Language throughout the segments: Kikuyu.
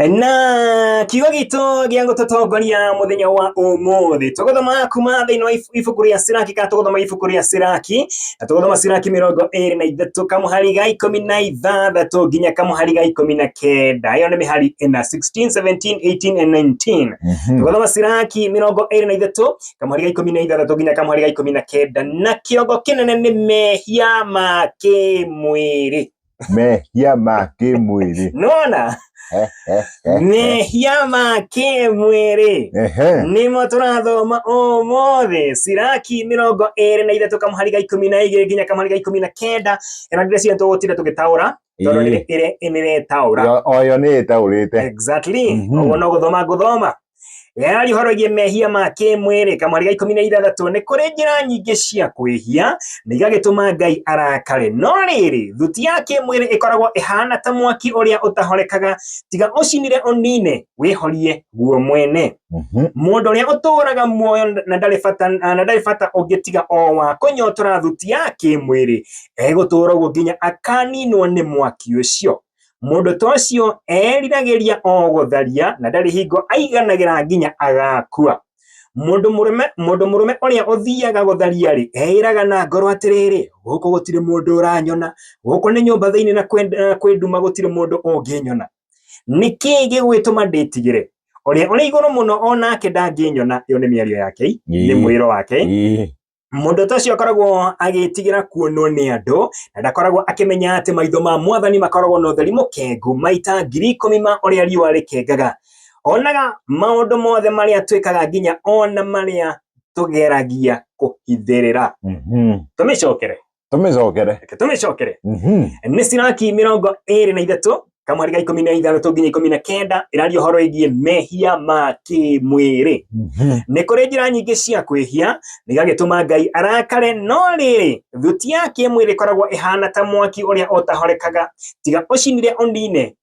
na kiugo gitå gä a gå tå tongoria må thenya wa å må thä tå gå thoma kuma thä inä wa ibuku rä a ciraki kana tå gå thoma ibuku rä a ciraki na tå gå thoma ciraki mä rongo ä rä na ithatå kamuhari ga ikå mi na ithathatå nginya kamuhari ga ikå mi na kenda ä yo nä mä hari ä na 16 17 18 and 19 Mhm. tũgathoma ciraki mĩrongo ĩrĩ na ithatũ kamũhari ga ikũmi na ithathatũ nginya kamũhari ga ikũmi na kenda na kĩongo kĩnene nĩ mehia ma kĩmwĩrĩ mehia ma kĩmwĩrĩ nona Eh, eh, eh, eh. mehia ma kĩmwĩrĩ Ehe. nĩmo tũrathoma ũmũthĩ siraki mĩrongo ĩrĩ na ithatũ kamũhari ga ikũmi na igĩrĩ nginya kamũhari ga ikũmi na kenda ĩno ndĩrĩ cio tũgũtinda tũgĩtaũra tondũ Ĩĩ. nĩ- ĩrĩ- ĩrĩtaũra Yo- oyo nĩ ĩtaũrĩte exactly Mhm. ũguo no gũthoma ngũthoma yarĩhorogie mehia ma kĩmwĩrĩ kamweri ga ikũmi na ithathatũ nĩ kũrĩ njĩra nyingĩ cia kwĩhia na igagĩtũma ngai arakare no rĩrĩ thuti ya kĩmwĩrĩ ĩkoragwo ĩhana ta mwaki ũrĩa ũtahorekaga tiga ũcinire ũnine wĩhorie guo mwene mhm. mũndũ ũrĩa ũtũũraga muoyo na ndarĩ bata ũngĩ tiga o wa kũnyotora thuti ya kĩmwĩrĩ egũtũũra ũguo nginya akaninwo nĩ mwaki ũcio Mũndũ ta ũcio eriragĩria o gũtharia na ndarĩ hingo aiganagĩra nginya agakua. Mũndũ mũrũme mũndũ mũrũme ũrĩa ũthiaga gũtharia-rĩ, eĩraga na ngoro atĩrĩrĩ, gũkũ gũtirĩ mũndũ ũranyona, gũkũ nĩ nyũmba thĩinĩ na kwĩ nduma gũtirĩ mũndũ ũngĩnyona. Nĩkĩ gĩgwĩtũma ndĩtigĩre? Ũrĩa ũrĩ igũrũ mũno o nake ndangĩnyona, ĩyo nĩ mĩario ya Ngai, nĩ mwĩro wake. Mũndũ ta ũcio akoragwo agĩtigĩra kuonwo nĩ andũ na ndakoragwo akĩmenya atĩ maitho ma mwathani makoragwo na ũtheri mũkengu maita ngiri ikũmi ma ũrĩa riũa rĩkengaga. Onaga maũndũ mothe marĩa twĩkaga nginya ona marĩa tũgeragia kũhithĩrĩra. Mhm. Tũmĩcokere. tũmĩcokere reke tũmĩcokere Mhm. nĩ ciraki mĩrongo ĩrĩ na ithatũ kamweri ga ikũmi na ithathatũ nginya ikũmi na kenda ĩraria ũhoro ĩgiĩ mehia ma kĩmwĩrĩ Mhm. nĩ kũrĩ njĩra nyingĩ cia kwĩhia nĩgagĩtũma ngai arakare no rĩrĩ thuti ya kĩmwĩrĩ ĩkoragwo ĩhana ta mwaki ũrĩa ũtahorekaga tiga ũcinire ũnine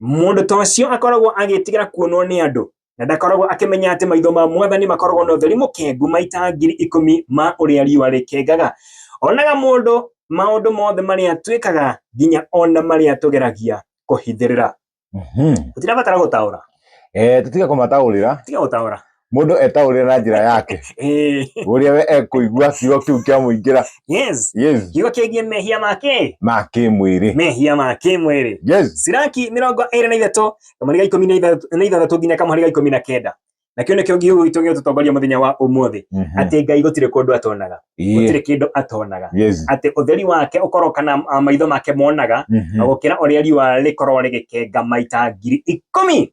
Mũndũ ta ũcio akoragwo agĩtigĩra kuonwo nĩ andũ na ndakoragwo akĩmenya atĩ maitho ma mwathani makoragwo na ũtheri mũkengu maita ngiri ikũmi ma ũrĩa riũa rĩkengaga. Onaga mũndũ maũndũ mothe marĩa twĩkaga nginya ona marĩa tũgeragia kũhithĩrĩra. Mhm. Tũtirabatara gũtaũra, Eh, tũtige kũmataũrĩra tiga gũtaũra. mundu etaurira na njira yake Eh, uria we ekuigua kiugo kiu kiamuingira yes yes kiugo kĩgiĩ mehia make ma kimwiri mehia ma kĩmwĩrĩ yes siraki mĩrongo ĩrĩ na ithatũ kamũhari ga ikũmi na ithatũ- na ithathatũ nginya kamũhari ga ikũmi na kenda nakĩo nĩkĩo ngiugo gitũ gĩgũtũtongoria mũthenya wa ũmũthĩ Mhm. atĩ ngai gũtirĩ kũndũ atonaga Yeah. gũtirĩ kĩndũ atonaga yes atĩ ũtheri wake ũkorwo kana ah, maitho make monaga Mhm. na gũkĩra ũrĩa riũa rĩkorwo rĩgĩkenga maita ngiri ikũmi